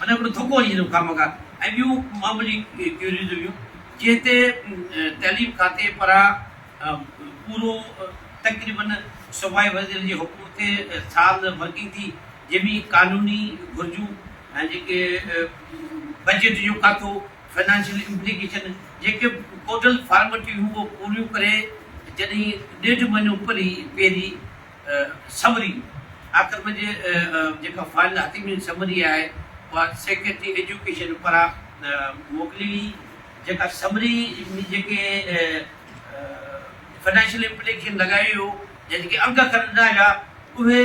ان ۾ ھڪڙو ڌڪ وڃي ٿيندو خامخا ۽ ٻيون معمولي ڪيوريز ھيون جنھن تي تعليم کاتي پران پورو تقريباً صوبائي وزير جي حڪم تي سال ورڪنگ ٿي جنھن ۾ قانوني گھرجون ۽ جيڪي بجيٽ جو کاتو فنانشل امپليڪيشن جيڪي ڪوڊل فارملٽيون ھيون اھو پوريون ڪري جڏھن ڏيڍ مھينو پري پيري سمري، آخر ۾ جي جيڪا فائنل حتمي سمري آهي اها سيڪريٽري ايجوڪيشن پاران موڪلي ويئي جيڪا سمري ۾ جيڪي فنانشل امپليڪيشن لڳائي ويو يا جيڪي انگ اکر ڏنا ويا اهي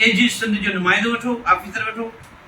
اي جي سنڌ جو نمائندو وٺو، آفيسر وٺو.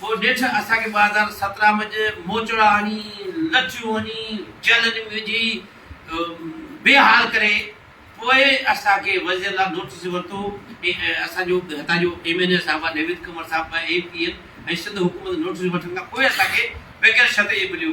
پوء نيٺ اسان کي ٻه هزار سترهن ۾ جي موچڙا هڻي، لچيون هڻي، جيلن ۾ وجهي، بي حال ڪري پوء اسان کي وزير لاء نوٽيس ورتو ۽ اسان جو هتان جو ايم اين اي صاحب نويد ڪنور صاحب ۽ اي پي اين ۽ سنڌ حڪومت نوٽيس وٺڻ کان پوء اسان کي بغير شرط جي مليو.